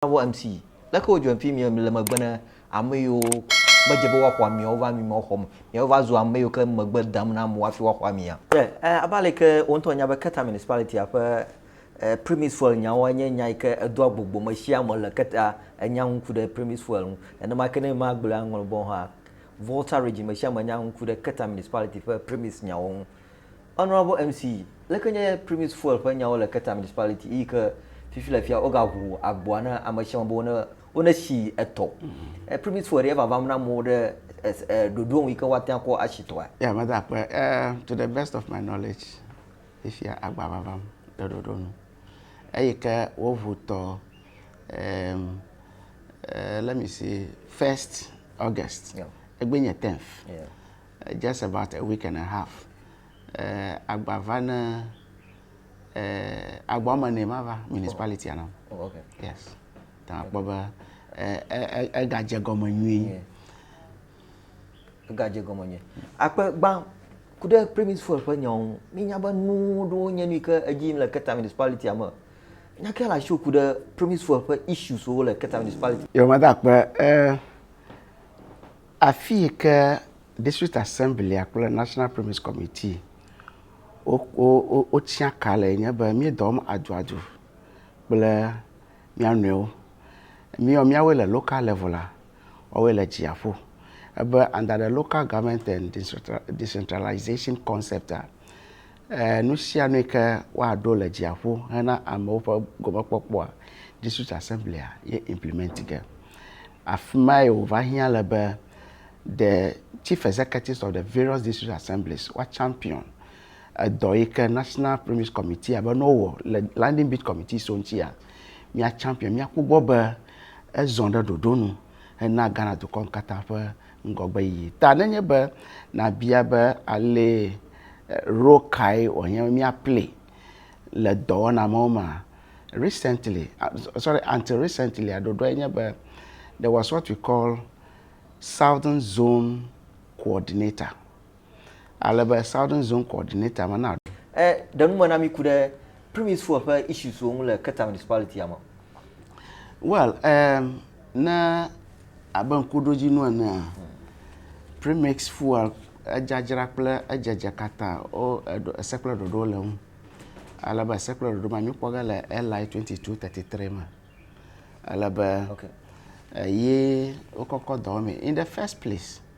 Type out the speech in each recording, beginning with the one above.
Navɔ MC, Leke wòdzɔe fi mi le megbe ne ameyiwo medze be woaxɔ amia wova mi ma xɔm, miawo va zu ameyiwo ke megbe dam na amewo hafi woaxɔ amia? Yeah, abe aleke wò ŋutɔ ènya be Keta Municipality-a ƒe Premise Fuel nyawoa nye nya yike edoa gbogbo me sia me le Keta enya ŋu ku ɖe Premise Fuel ŋu. Nenema ke ne magblɔe aŋlɔ bɔ hã, Volta Region me sia me nya ŋu ku ɖe Keta Municipality ƒe Premise nyawo ŋu. Honourable MC, Leke nye Primus Fuel ƒe nyawo le Keta Municipality eyi ke fifi le fia wogaʋu agboa na ame sia ame be wone wonesi etɔ. Primus Fuel ɖee vavam na amewo ɖe ɖoɖo nu yi ke woate ŋu akɔ asi tɔa? Yeah, meda akpe. To the best of my knowledge fifia agboa vavam ɖe ɖoɖo nu eyi ke woʋu tɔ let me see first August egbe nye tenth. Just about a week and a half agba va ne agba wɔme ene ma va municipality na. Oh, okay. Yes. Ta akpɔ be ega dze gɔme nyuie. Ega dze gɔme nyuie. Akpe gba ku ɖe premis fuel ƒe nyawo mi nya be nu ɖewo nye nu ke edzi le keta municipality me. Nya ke la sho ku ɖe premis fuel ƒe issues wo le keta municipality. Yo ma da akpe eh Afi yi ke District Assemblia kple National Primaries Committee wo, wo, wo, wotia ka le nye be míedɔ wɔm aduadu kple mía nɔewo. Míewɔ míawoe le local level la, woawoe le dziaƒo. Ebe under the Local Government and Decentralization Concept a, Nu sia nu yi ke woaɖo le dziaƒo hena amewo ƒe gɔmekpɔkpɔa, District Assembly-a ye implement ge. Afi mae wòva hiã le be the Chief Executives of the various District Assemblies woa champion edɔ yi ke National Pyramid Committee-a be ne wowɔ le Landing Beat Committee so ŋutia, mía champion, míakpɔ gbɔ be ezɔ ɖe ɖoɖo nu hena Ghana dukɔ katã ƒe ŋgɔgbeyiyi ta. Nenye be nàbia be alee alo kae wòanye be míaplii le dɔwɔna mawo mea, recently, sorry, until recentlya, ɖoɖoae nye be, there was what we call southern zone coordinator. ale be Southern Zone Coordinator me na. E ɖe nu me na mi ku ɖe Primis Fuel ƒe issues wo ŋu le Keta Municipality ya me. Well, um, ne abe ŋkuɖodzinu enea, Premix Fuel edzadzra kple edzedze katã wo eɖo ese kple ɖoɖo le ŋu. Ale be ese kple ɖoɖo ma mi kpɔ ge le LI 2233 me. Ale be okay. eye wokɔkɔ dɔ wɔmee in the first place.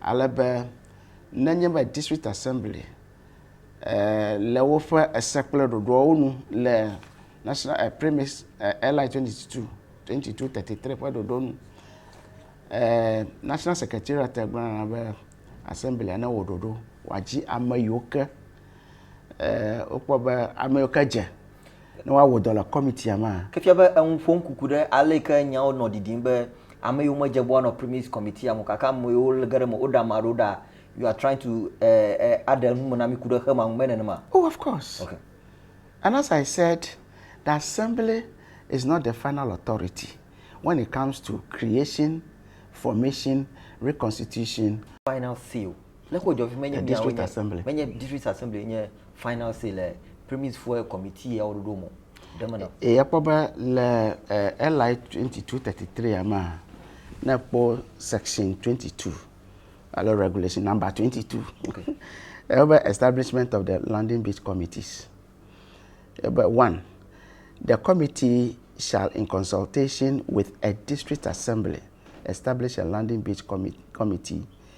ale be nenye be district assembly le woƒe ese kple ɖoɖoawo nu le national eh, premise eh, LI 22 2233 ƒe ɖoɖo nu eh, national secretariat gblɔna be assembly ne wɔ ɖoɖo wòadzi ame yiwo ke eh, wokpɔ be ame yiwo ke dze ne woawɔ dɔ le kɔmitia mea? Ke fia be eŋu ƒom kuku ɖe ale yi ke nyawo nɔ ɖiɖim be ame yiwo medze be woanɔ Primis Kɔmitia me o gake ame yiwo ge ɖe eme woɖe ame aɖewo ɖa. You are trying to aɖe nu me na mí ku ɖe xema ŋu, mele nenema? Oh, of course. Ok. And as I said, the Assembly is not the final authority when it comes to creation, formation, reconstitution, Final seal Le ko dzɔvi menye mia wo nye menye district assembly nye final say le premise for committee ya woɖoɖo mo ɖe me na. Eye kpɔ be le eh, LI 2233 ya ma ne kpɔ section 22 alo regulation number 22 okay. ebe establishment of the landing beach committees ebe one the committee shall in consultation with a district assembly establish a landing beach committee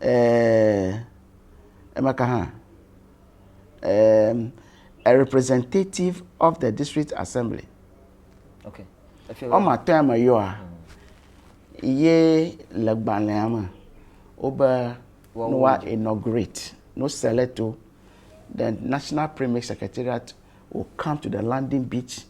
Eeeee eme ka hã? A representative of the district assembly. Okay. Wome atɔ̃ ya me yɔa ye le gbalẽa me wobe ne woa inaugurate no select wo the national primary secretariat will come to the landing beach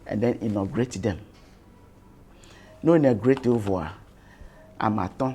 and then inaugurate them. No inaugurate wo vɔa ame atɔ̃.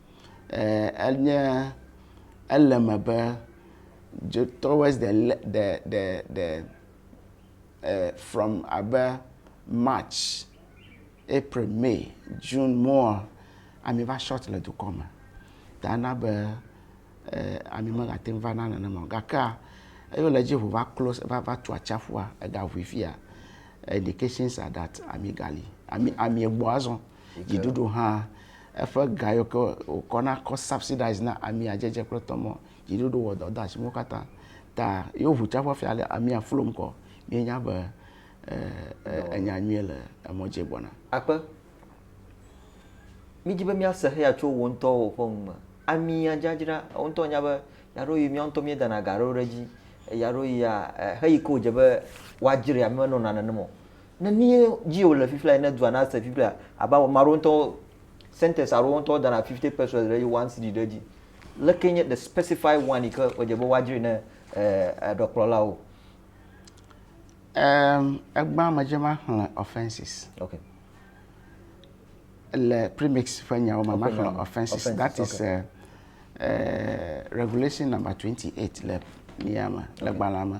eh, enye ele me be towards the the the the eh, from abe march april may june more ami va short le dukɔ me ta na be eh, ami megate ŋu va na nenema o gakea eyo le dzi ʋu va close va va tu atsaƒua ega ʋui fia indications are that ami gali ami ami egbɔ azɔ Dziɖuɖu hã, eƒe ga yiwo ke wòkɔ na kɔ subsidize na amia dzedze kple tɔ mɔ. Dziɖuɖu wɔ dɔ de asi nuwo katã. Ta yewo ŋu tsa ƒe fia le amia flom kɔ. Míenya be enya nyuie le emɔ dzi gbɔna. Akpe, Mídi be míase heya tso wò ŋutɔwo ƒe nu me. Amia dzadzra, wò ŋutɔ ènya be ɣeaɖewoɣi míawo ŋutɔ míedana ga aɖewo ɖe edzi. Ɣeaɖewoɣia, xeyi ke wòdze be woadzrae, ame menɔna nenem o. Ne míe dzi wòle fifia ene dua na se fifia abe ame aɖewo ŋutɔ sentence aɖewo ŋutɔ dana fifty percent ɖe dzi one cd ɖe dzi. Leke nye the specify one yi ke wòdze be woadzre ne ɖɔkplɔlawo? Um, egbã me dze ma xlẽ offenses. Okay. Le premix ƒe nyawo me ma xlẽ offenses. offenses. That is okay. uh, uh, regulation number 28 le mia me, okay. le gbalã me.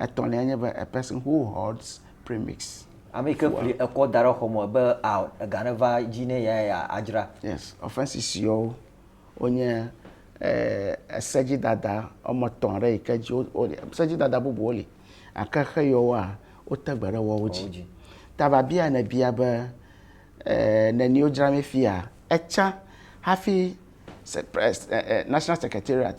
Etɔ̃lia nye be, a person who hoards premix. Ame yi ke kli ekɔ da ɖe xɔ me be a ega ne va dzi ne ya ya adzra. Yes, offences siwo wonye esedzidada wɔme etɔ̃ aɖe yi ke dzi wo wo sedzidada bubuwo li gake xe yewoa wote gbe ɖe woawo dzi. Ta biabia ne bia be e neni wodzra mi fia etsa hafi se pres e e national secretariat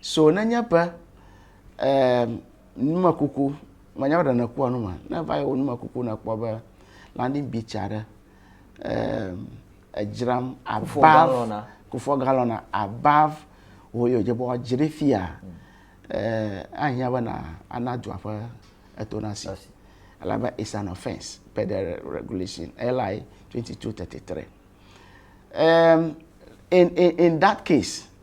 so nenye be eh, numekuku menya be ɖe kpɔa nu ma ne va yi wo numekuku ne kpɔ be landing beach aɖe eh, edzram above kufɔ galɔna above wo yɔ dze bɔ dzi ɖe fia hmm. eh, ahiã be na ana dua ƒe eto na si alabe is an offence per the regulation LI 2233 um, in, in, in that case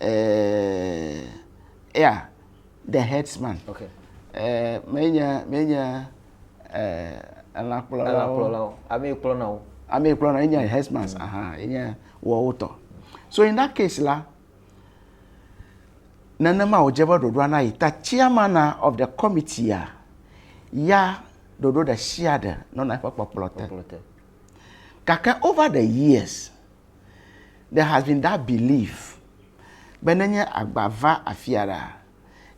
eh, yeah, the headsman. Okay. Eh, menye menye eh, elãkplɔlawo. Elãkplɔlawo. Ame yi kplɔna wo. Ame yi kplɔna enye headsman. Mm. Aha, enye wɔwo tɔ. So in that case la, nenema wòdze be ɖoɖoa na yi ta chairman of the committee a, ya ɖoɖo ɖe sia ɖe nɔna eƒe kpɔkplɔ te. Gake over the years, There has been that belief be ne nye agba va afia ɖaa,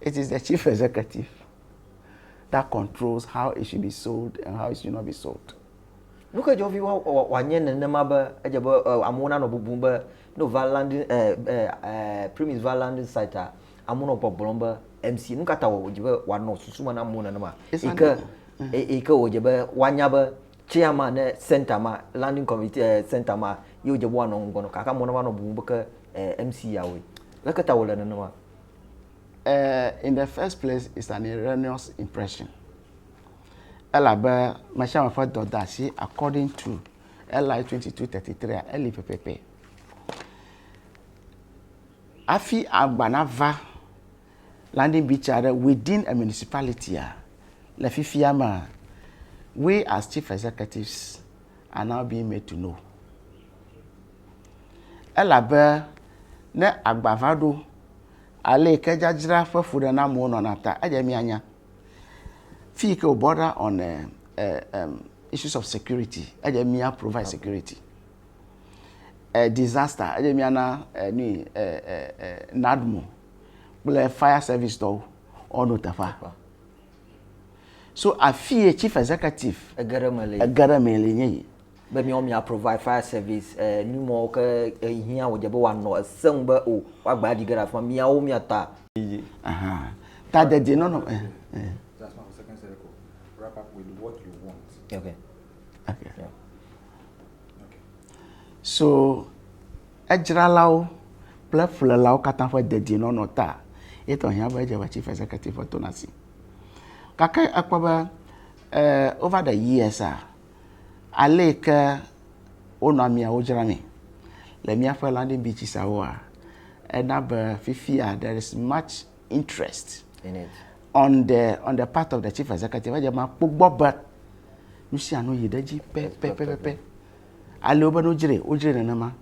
it is the chief executive that controls how it should be sold and how it should not be sold. Nu ke dzɔ vi wa wòanye nenema be edze be amewo nanɔ bubum be ne wòva landing eh, eh, eh, premise va landing site a amewo nɔ gbɔgblɔm be MC nu ka ta wòdze be wòanɔ susu me na amewo nenema It's yi an- ke yi ke wòdze be woanya be Chairman ɖe center ma, landing committee eh, center ma, ye wodze be woanɔ ŋgɔ nɔ kaka mɔ ne woanɔ bubu be ke eh, MC yawoe. Leke ta wòle nenema? Eh, in the first place, it's an erroneous impression. Elabe mesiame ƒe dɔdeasi according to LI 2233 a, eli pɛpɛpɛ. Hafi agba nava Landing beach aɖe within a municipality a, le fifia mea, we as chief executives are now being made to know. Elabe ne agba va ɖo, ale ke dzadzra ƒe fuɖenamewo nɔna ta, edze mianya. Fi ke o border on uh, uh, um, issues of security, edze mia provide security. Uh, disaster, edze miana uh, ni uh, uh, uh, NADMO kple fire service tɔwo woanɔ teƒea. So afie chief executive ege ɖe me le ege ɖe me le nye yi. Be miawo mia provide fire service eh, numɔwo ke ehiã eh, wòdze be wòanɔ ese ŋu be o woagba aɖi ge ɖe afima miawo mia ta. Ta dede nɔnɔ. Eh, eh. That's one second circle. Wrap up with what you want. Okay. Okay. Yeah. okay. So edzralawo kple ƒlelawo katã ƒe dedienɔnɔ ta ye tɔ hiã be edze Chief Executive ƒe tonasi. Gake ekpɔ be eh, over the years a, ale yi ke wonɔ amiawo dzramee le míaƒe landing beaches awoa, ena be fifia there is much interest in it on the on the part of the chief executive edze ma kpɔ gbɔ be nu sia nu yi ɖe edzi pɛpɛpɛpɛ. Ale wobe ne wodzrae, wodzrae nenema.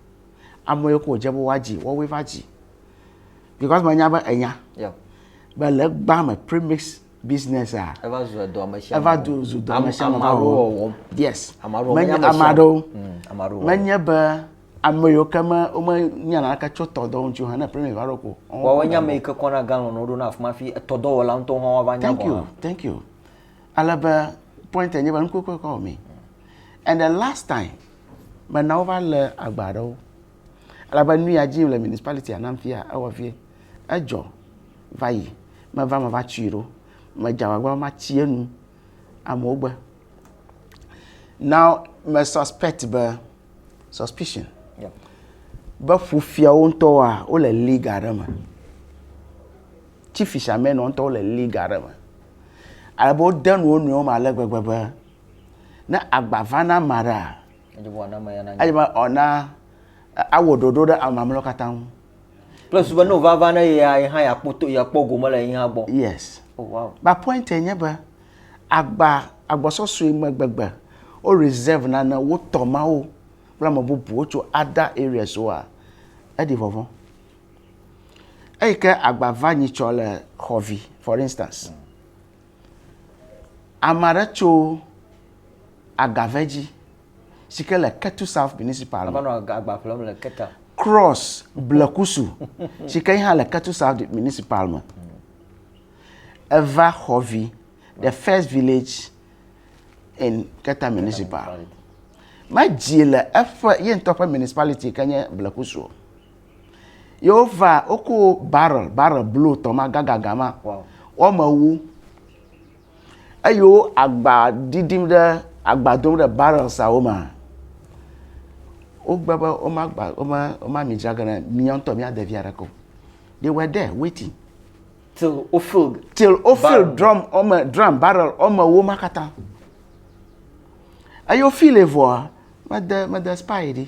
Ame yiwo ke wòdze be woadzi, woawoe va dzi. Because menya be ènya. Yeah. Be le egbea me, premix business-a. Eva zu edɔmeshiame. Eva du zu dɔmeshiame. Ame aɖewo wɔwɔm. Yes. Ame aɖewo menye ame aɖewo. Mm, ame aɖewo. Menye be ame yiwo ke me womenya naneke tso tɔdɔ ŋuti o hã ne premix va ɖo ko. Wɔwɔ nye ame yi ke kɔna galɔn woɖo na afi ma fi etɔdɔwɔla ŋutɔ hã woava nya gɔ̃ hã. Thank you. Thank you. ale be point nye be nuku kɔkɔ wɔ mee and the last time mena wova lé agba aɖewo ale be nu ya dzi le municipality anam fia ewɔ vie edzɔ va yi meva meva tui ɖo medze agbagba ma tsi enu amewo gbe now me suspect be suspicion yeah. be ƒufiawo ŋutɔwoa wole league aɖe me. tsi fishamɛnɔ ŋutɔwo le league aɖe me. Ale be wode nu wo nɔewo me ale gbegbe be ne agba va na ame aɖea, edze be wana ame ya nanya. edze be wana awɔ ɖoɖo ɖe ame mamleawo katã ŋu. Kple susu be ne wòva va ne yea, ye hã yeakpɔ to, yeakpɔ gome le yehã gbɔ. Yes. Oh wow. Ba pointe nye be agba agbɔsɔsɔe me gbegbe wo reserve nane wotɔ mawo kple ame bubuwo tso other areas woa, eɖi vɔvɔ̃. Eyi ke agba va nyi tsɔ le xɔ vi for instance. Ame aɖe tso Agave dzi si ke le Ketu South Municipal. Ava nɔ agba ƒlem le Keta. Cross Blekusu si ke hã le Ketu South Municipal me. Eva xɔ vi the first village in Keta Municipal. Medzi le eƒe ye ŋutɔ ƒe municipality ke nye Blekusu. Ye wova, woko barrel, barrel blu tɔ ma, gagaga ma, woame wu. Eye wo agba ɖiɖim ɖe, agba dom ɖe barrelsawo me. Wogbe be woma gba, woma, woma mi dzra ge ne mía ŋutɔ míade via ɖeke o. They were there waiting. Till wo fill. Till wo fill drum, woame, drum, barrel, woame wu ma katã. Eye wo fill vɔa, mede, mede spy ɖi.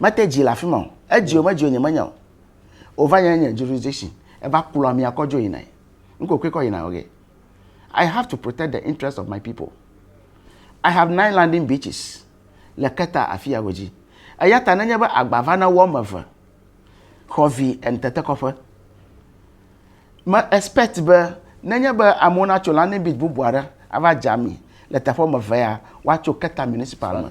Mete dzi le afi ma o. Edzi o medzi o nyemenya o. Wova nye nye jurisdiction. Eva kplɔ amia kɔ dzo yina. Ŋkokui kɔ yina oge. I have to protect the interest of my people. I have nine landing beaches le Keta afi ya godzi. Eya ta nenye be agba va na wo ame eve xɔ vi en tetekɔƒe. Me expect be nenye be amewo natso landing beach bubu aɖe ava dza mi le teƒe ame eve ya, woatso Keta municipal me.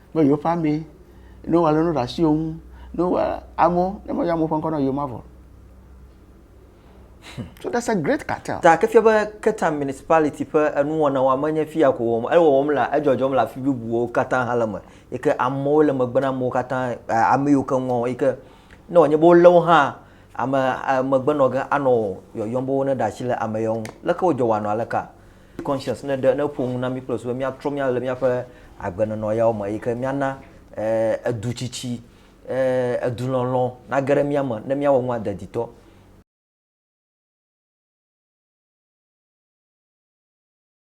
Ne yewoƒe amee, ne wowɔ alɔnu ɖe asi wo ŋu, ne wowɔ amewo, ne meyɔ amewo ƒe ŋkɔ na wo yomavɔ o. Hmm. So that's a great cartel. Ta ke fia be Ketam municipality ƒe enuwɔna wɔm menye fia ko wɔm, ele wɔwɔm le edzɔdzɔm le afi bubuwo katã hã le me. Yi ke amewo le megbe na amewo katã, eh, ame yiwo ke ŋɔ yi ke ne wònye be wolé wo hã ame eh, megbe nɔ ge anɔ yɔyɔm be wone ɖe asi le ame yewo ŋu. Leke wodzɔ wɔanɔ aleka? Conscience ne ɖe ne ƒo nu na mí kple susu be míatrɔ mía le míaƒe agbenɔnɔ yawo me yi ke míana edutsitsi edulɔlɔ̃ nage ɖe mía me ne míawɔ nu ade ditɔ.